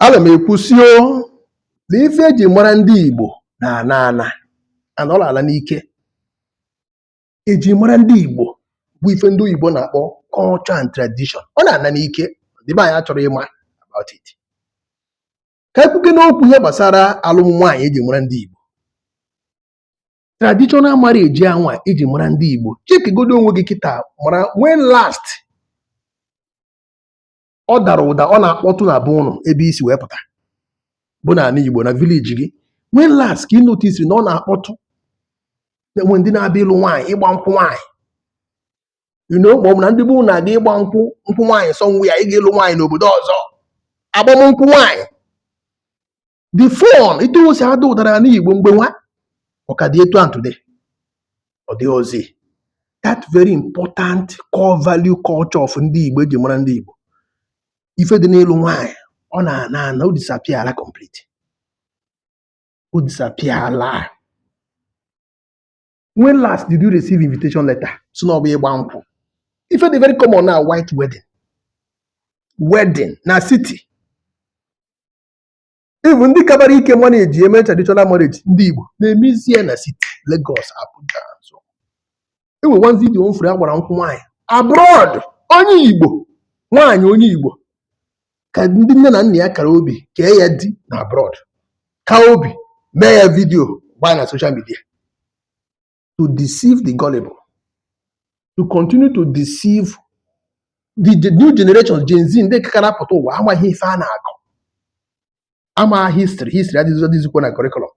ana m ekwusio na ife eji mara ndị Igbo na ana ana ana ọ na-ala n'ike eji mara ndị Igbo bụ ife ndị oyibo na-akpọ culture and tradition ọ na-ana n'ike ndị be anyị achọrọ ịma about it ka ekwukene okwu ihe gbasara alụm nwaanyị eji mara ndị Igbo traditional marriage anwa eji mara ndị Igbo chekigodo onwe gị kịta mara when last ọ dara ụda ọ na-akpọtụ na be ụnụ ebe i si wee pụta bụ na ala Igbo na village gị when last ka ị notice na ọ na-akpọtụ enwe ndị na-abịa ịlụ nwaanyị ịgba nkwụ nwaanyị you know ma ọ bụ na ndị be ụnụ na-aga ịgba nkwụ nkwụ nwaanyị somewhere ịga ịlụ nwaanyị n'obodo ọzọ agbam nkwụ nwaanyị the fun etu o si ada ụda n'ala Igbo mgbe nwa ọ ka dị etu a today ọ dịrọzi that very important core value culture of ndị Igbo eji mara ndị Igbo ife dị n'ịlụ nwaanyị ọ na-ana ana o disappear complete o disappear when last did you receive invitation letter si na ọ bụ ịgba nkwụ ife dị very common na white wedding wedding na city Even ndị kabara ike manage eme traditional marriage ndị Igbo na-emezi ya na city Lagos, Abuja so enwe one video m furu agbara nkwụ nwaanyị abroad onye Igbo nwaanyị onye Igbo ka ndị nne na nna ya kara obi kee ya di na abroad kaa obi mee ya video gbaa na social media to deceive the gullible, to continue to deceive the the new generation, Gen Z, ndị ka na-apụta ụwa amaghị ife a na-akọ, ama history, history adịghịzi adịghịzikwa na curriculum.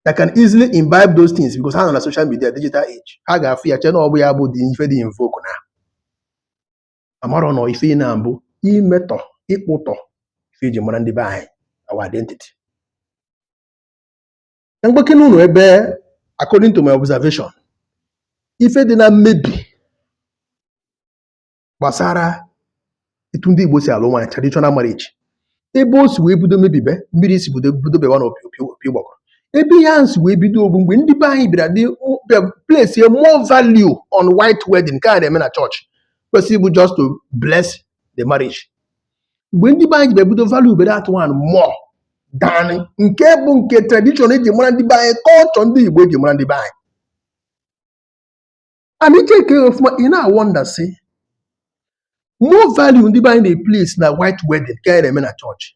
They can easily imbibe those things because ha nọ na social media, digital age. Ha ga-afụ ya chee na ọ bụ ya bụ ụdị ife dị in vogue na amarọ na ife ị na-eme bụ imetọ ịkpụtọ ife eji mara ndị be anyị our identity. ka m gwakene ụnụ ebe according to my observation ife dị na mmebi gbasara etu ndị Igbo si alụ nwaanyị traditional marriage ebe o si wee bido mebibe mmiri si bido bido bawa na opi ụgbọgụrụ ebe ihe ahụ si wee bido bụ mgbe ndị be anyị bịara dị place more value on white wedding nke a na-eme na chọọchị kwesịrị bụ just to bless the marriage mgbe ndị be anyị ji bịa bido valuebe that one more than nke bụ nke tradition eji mara ndị be anyị culture ndị Igbo eji mara ndị be anyị and i chekie ọfụma ị na-awonder sị more value ndị be anyị na-eplace na white wedding nke a na-eme na chọọchị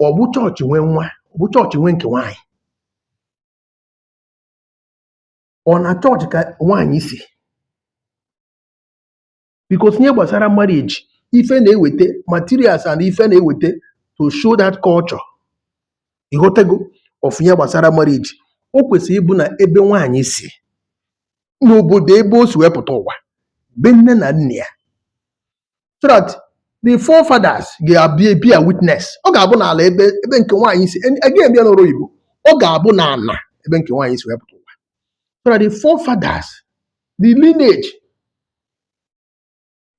ọ bụ chọọchị nwe nwa ọ bụ chọọchị nwe nke nwaanyị ọ na chọọchị ka nwaanyị si because ihe gbasara marriage ife na-eweta materials and ife na-eweta to show that culture ịghọtago of ihe gbasara marriage o kwesịrị ịbụ na ebe nwaanyị si n'obodo ebe o si wepụta ụwa be nne na nna ya so that the forefathers ga-abịa ebear witness ọ ga-abụ n'ala ebe ebe nke nwaanyị si agaghị eme ya n'ọrụ oyibo ọ ga-abụ n'ala ebe nke nwaanyị si wepụta ụwa so that the forefathers the lineage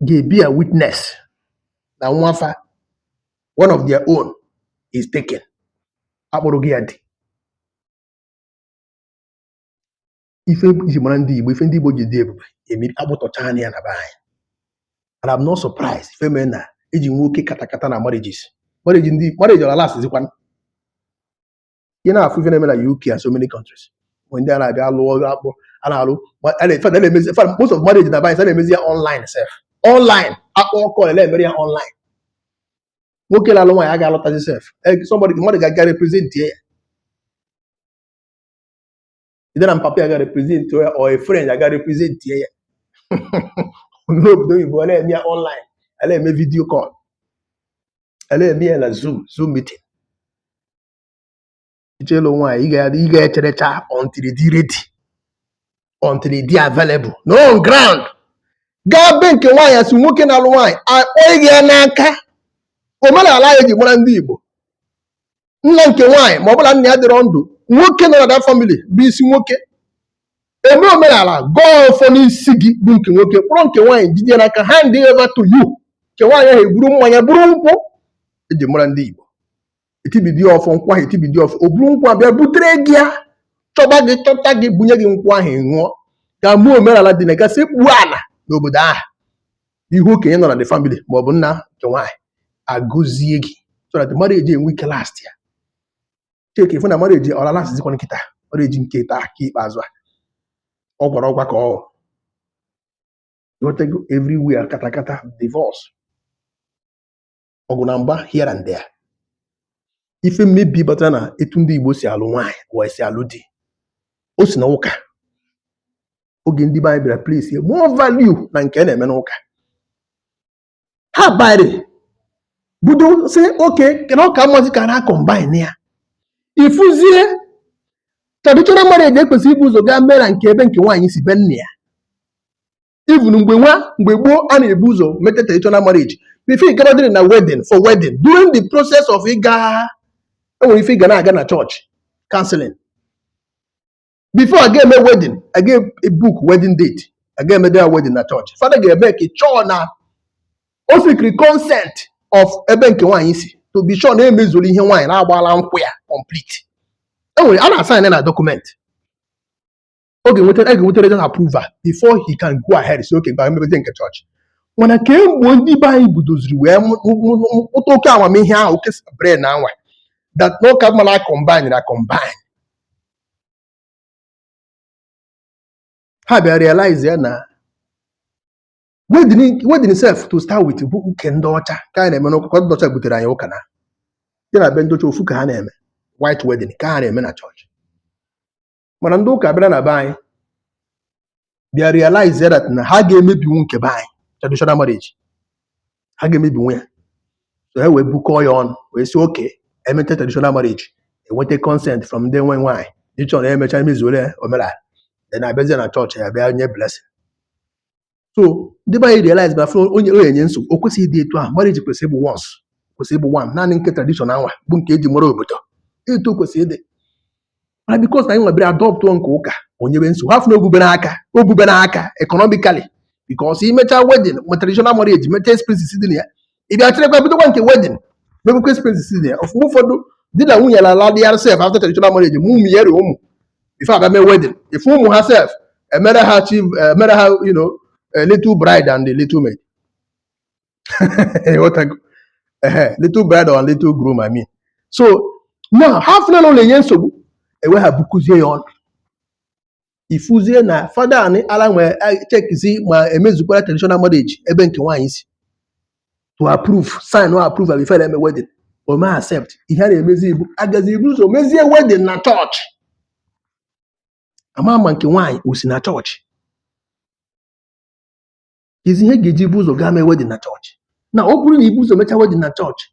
ga-ebear witness na nwafa one of their own is taken akpọrọ gị ya di ife iji mara ndị Igbo ife ndị Igbo ji dị ebube emiri akpụtọchaana ya na be anyị and I'm not surprised ife mee na eji nwee oke katakata na marriages marriage ndị marriage ọ na-alast zikwan ị na-afụ ife na-eme na UK and so many countries mgbe ndị a na-abịa alụ ọrụ akpọ a na-alụ most of marriage nowadays a na-emezi ya online sef online akpọọ call emere ya online nwoke na-alụ nwaanyị agaghị alọtazi sef eh, somebody mmadụ ga-aga represent ya either na mpapa ya ga represent ya or a friend ya ga represent ya n'obodo oyibo a na-eme ya online a na-eme video call a na-eme ya na zoom zoom meeting ị chọọ ịlụ nwaanyị ị ga- ị ga-echerecha until ị dị ready until ị dị available nọ on ground gaa be nke nwaanyị as nwoke na-alụ nwaanyị akpọnye gị ya n'aka omenala eji mara ndị Igbo nna nke nwaanyị ma ọ bụ na nna ya adịrọ ndụ nwoke nọ na that family bụ isi nwoke eme omenala gọọ ọfọ n'isi gị bụ nke nwoke kpọrọ nke nwaanyị jide n'aka hand over to you nke nwaanyị ahụ eburu mmanya buru nkwụ eji mara ndị Igbo etibidi ọfọ nkwụ ahụ etibidi ọfọ o buru nkwụ abịa butere gị ya chọba gị chọta gị bunye gị nkwụ ahụ ṅụọ ga-eme omenala dị na gaa sekpuo ala n'obodo ahụ ihu okenye nọ na the family ma ọ bụ nna nke nwaanyị agọzie gị so that marriage enwe ike last ya cheke ị fụ na marriage ọ na-alast zikwan kịta marriage nke taa ka ikpeazụ a ọ gwara ọgwa ka ọ bụ ịghọtago everywhere katakata divorce ọgụ na mgba here and there ife mmebi batara na etu ndị Igbo si alụ nwaanyị wee si alụ di o si na ụka oge ndị be anyị bịara place more value na nke a na-eme n'ụka ha bịa bido sị okay na ọ ka mmazi ka a combine ya ị fụzie traditional marriage ekwesịrị ibu ụzọ gaa mee na nke ebe nke nwaanyị si be nne ya even mgbe nwa mgbe gboo a na-ebu ụzọ mete traditional marriage before ị ga ready na wedding for wedding during the process of ịga enwere ife ị ga na-aga na chọọchị counseling before a ga-eme wedding a ga-ebook wedding date a ga-eme their wedding na chọọchị fada ga-emake sure na o seekiri consent of ebe nke nwaanyị si to be sure na emezuru ihe nwaanyị na agbala nkwụ ya complete enwere a na-asign na document ọ ga-enweta a ga-enweta regional approval before he can go ahead sị okay ngwa mebezie nke chọọchị mana kemgbe ndị be anyị budoziri wee mụ- mụ- mụ- mụ- mụta oke amamihe ahụ oke brain anwa that na ọ ka mma na combine na combine ha bịa realize ya na wedding wedding self to start with bụ nke ndị ọcha ka anyị na-eme n'ụka ka ndị ọcha butere anyị ụka na ya na be ndị ọcha ofu ka ha na-eme white wedding ka ha na-eme na chọọchị mana ndị ụka bịara na be anyị bịa realize ya that na ha ga-emebinwu nke be anyị traditional marriage ha ga-emebinwu ya so ha wee bukọọ ya ọnụ wee sị okay emete traditional marriage enweta consent from ndị nwe nwaanyị be sure na emecha emezuole omenala then abịazie na chọọchị ya bịa nye blessing so ndị be anyị realize na fụrụ onye ọ na-enye nsogbu o kwesịghị ịdị etu ahụ marriage kwesịrị ịbụ once kwesịrị ịbụ one naanị nke tradition anwa bụ nke eji mara obodo etu o kwesịrị ịdị mana because na anyị nwebere adọptụọ nke ụka o nyebe nsogbu ha fụ na ogubere aka ogubere aka economically because i mecha wedding ma traditional marriage mecha expenses dị na ya ị bịa chịrịkwa bidokwa nke wedding mebekwa expenses dị na ya ọfụma ụfọdụ di na nwunye na ala dị ya sef after traditional marriage mụ ụmụ ya rie ụmụ before abịa mee wedding ị fụ ụmụ ha sef emere ha chi emere ha you know a little bride and a little maid ịghọtago ehe little bride and little groom I mean so now ha fụna na ọ na-enye nsogbu ewe ha bukọzie ya ọnụ ị fụzie na fada anị ala nwere checkizi ma emezukwara traditional marriage ebe nke nwaanyị si to approve signụọ approval before eme wedding o ma accept ihe a na-emezi bụ agazi ibu ụzọ mezie wedding na chọọchị ama ama nke nwaanyị o si na chọọchị kezi ihe ga-eji ibu ụzọ gaa mee wedding na chọọchị na ọ bụrụ na ibu ụzọ mechaa wedding na chọọchị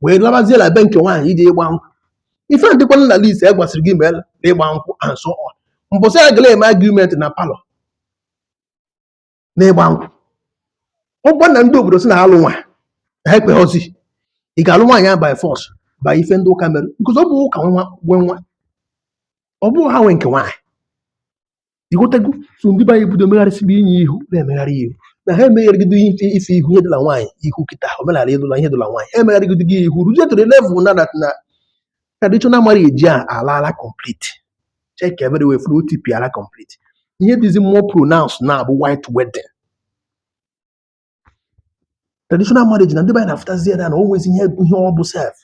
wee labazie na be nke nwaanyị ije ịgba nkwụ ife dịkwana na list e gwasịrị gị mee na ịgba nkwụ and so on mbọsị a gala eme agreement na palọ n'ịgba nkwụ ọ bụrụ na ndị obodo sị na alụ nwa na ha ekweghịzi ị ga-alụ nwaanyị ahụ by force by ife ndị ụka mere because ọ bụ ụka nwa nwe nwa ọ bụ ha nwe nke nwaanyị ị ghọtago so ndị be anyị bido megharịsịba inye ihu na-emegharị ihu na ha emegharịgido ife ife ihu ihe idula nwaanyị ị hụ kịta omenala idula ihe idula nwaanyị ha emegharịgido gị ihu ruzie to the level na that na traditional marriage a alaala complete check everywhere fụ na o tipịala complete ihe dịzi more pronounced now bụ white wedding traditional marriage na ndị be anyị na-afụtazi ya na o nwezi ihe ihe ọ bụ sef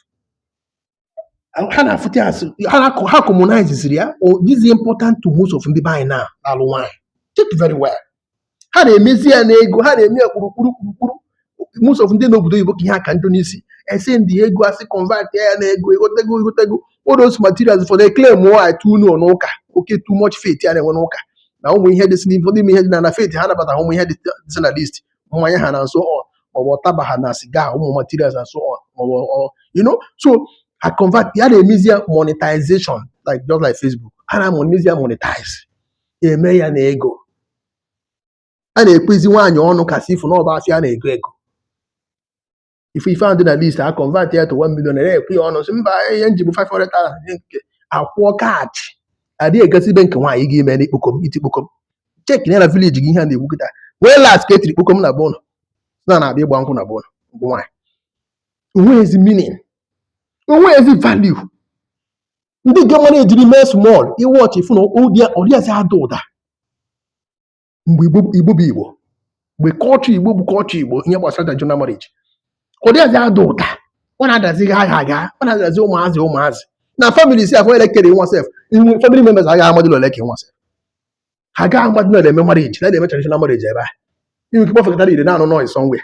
ha na-afụta ya asị ha na- ha commonizeziri ya ọ dịzi important to most of ndị be anyị na-alụ nwaanyị check very well ha na-emezi ya n'ego ha na-eme ya kpurukpuru kpurukpuru most of ndị n'obodo oyibo ka ihe a ka njọ n'isi e sendi ego asị convert ya na ego egotego egotego all those materials for the claim o I too know n'ụka oke too much faith ya na-enwe n'ụka na ụmụ ihe dịsị n'ife ụfọdụ ime ihe dị na na faith ha nabata ụmụ ihe dịsị na list mmanya and so on maọbụ ụtaba ha na siga ụmụ materials and so on maọbụ ọ you know so a convert ya na-emezi ya monetization like just like Facebook ha na-emezi ya monetize eme ya na ego a na-ekwezi nwaanyị ọnụ ka asị ịfụ na ọ bụ afịa a na-ego ego ife ife ahụ dị na list a convert ya to 1 million naira ekwe ya ọnụ sị mba ihe m ji bụ 500,000 nye nke akwụọ cash adịghị egosi ibe nke nwaanyị gị ime n'ikpokom iti kpokom cheki na village gị ihe a na-ekwu kịta when last ka etiri kpokom na be unu na na-abịa ịgba nkwụ na be unu bụ nwaanyị onweghịzi meaning onweghịzi value ndị nke mmadụ ejiri mee small research ị fụ na ọdịazi ada ụda mgbe igbo igbo bụ igbo mgbe culture igbo bụ culture igbo ihe gbasara traditional marriage ọdịazi ada ụda ọ na-adazi gha agha agha ọ na-adazi ụmụazị ụmụazị na family si afọ elekere nwa sef family members agaghị amadịla ole ka nwa sef ha gaghị amadịla ole eme marriage na eme traditional marriage ebe a i nwe ike kpọfekọtara ire na-anụ noise somewhere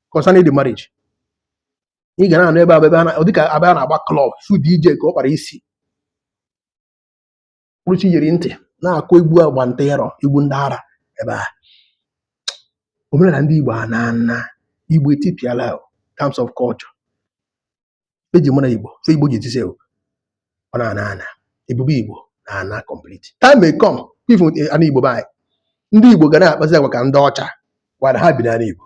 concerning the marriage ị ga na-anụ ebe a ọ dịka ebe a na-agba club fụ DJ ka ọ kpara isi kpụrụchi yiri ntị na-akụ egwu agba nta ịrọ egwu ndị ara ebe a omenala ndị Igbo a na-ana Igbo etipịala terms of culture eji mara igbo ife igbo ji ejisi ọ na-ana ana ebube igbo na-ana complete time may come ị fụ ana igbo be anyị ndị igbo ga na-akpazi agwa ka ndị ọcha mana ha bi n'ala igbo